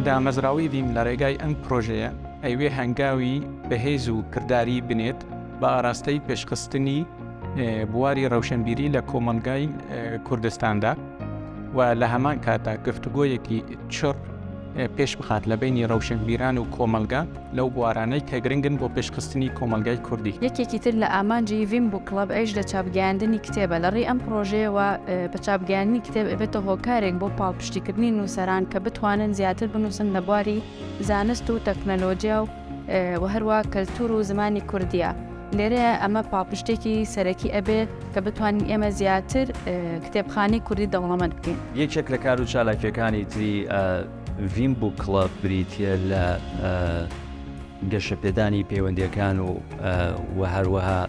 دامەزراوەی ڤیم لە ڕێگای ئەم پرۆژەیە ئەیوێ هەنگاوی بەهێز و کردداری بنێت بە ئاراستەی پێشخستنی بواری ڕەوشەنبیری لە کۆمەلگای کوردستاندا و لە هەمان کاتا گفتوگۆیەکی چڕ پێش بخات لە بینی ڕەوشنبیران و کۆمەلگا لەو بوارانەی کە گرنگن بۆ پێشخستنی کۆمەڵگای کوردی. یەکێکی تر لە ئامانجی ڤیم بووک کڵەب ئەیش لە چاپگەیاندنی کتێبە، لە ڕێی ئەم پڕۆژەیەوە بە چاپگەیاندنی کتێب ئەبێتە هۆکارێک بۆ پاڵپشتیکردنی نووسەران کە بتوانن زیاتر بنووسن لە بواری زانست و تەکنەلۆجیا و و هەروا کەلتوور و زمانی کوردییە لێرەیە ئەمە پاڵپشتێکی سەرەکی ئەبێ کە بتوانین ئێمە زیاتر کتێبخانەی کوردی دەوڵەمەند بکەین. یەکێک لە کار و چالاکییەکانی تری ڤیم بووک کڵەب بریتییە لە گەشەپێدانی پەیوەندیەکان و و هەروەها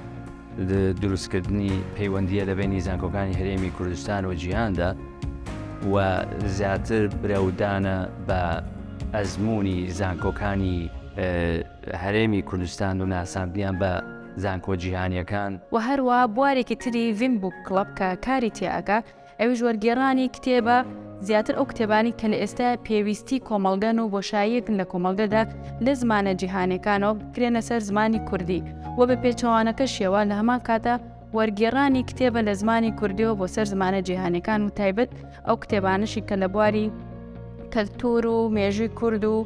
دروستکردنی پەیوەندیە لە بینی زانکۆکانی هەرێمی کوردستان و جیهاندا و زیاتر برەودانە بە ئەزمموی زانکۆکانی هەرێمی کوردستان و ناساندیان بە زانکۆ جیهانیەکان و هەروە بوارێکی تری ڤیم بووک کڵەب کە کاری تێئەگا ئەویش وەرگێڕانی کتێبە، زیاتر ئەو کتێبانەی کە لە ئێستایا پێویستی کۆمەڵگەن و بۆشاییەکن لە کۆمەڵگەدا لە زمانە جیهانیەکانەوە بکرێنە سەر زمانی کوردی و بە پێچەوانەکەشیەوە لە هەمان کاتا وەرگێڕانی کتێبە لە زمانی کوردیەوە بۆ سەر زمانە جیهانیەکان و تایبەت ئەو کتێبانەشی کە لە بواری کەلتور و مێژوی کورد و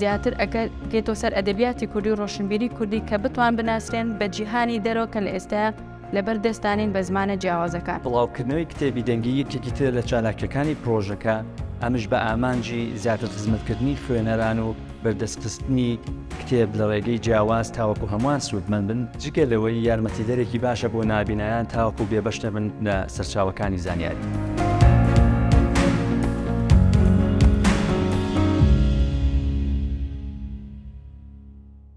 زیاتر ئەگەر بکەێتەوە سەر ئەدەبیاتی کوردی و ڕۆشنبیری کوردی کە بتوان بناسرێن بە جیهانی دەرەوە کە لە ئێستا لەبەر دەست دانین بە زمانە جیاوازەکان. بڵاوکردنەوەی کتێبی دەنگی یەکێکی ترە لە چالاکییەکانی پڕۆژەکە، ئەمش بە ئامانجی زیاتر خزمەتکردنی خوێنەران و بەردەستخستنی کتێب لە ڕێگەی جیاواز تاوەکو هەمووان سوودمەند بن، جگە لەوەی یارمەتیدەرێکی باشە بۆ نابینایان تاوەکو بێبەش نەبن لە سەرچاوەکانی زانیاری.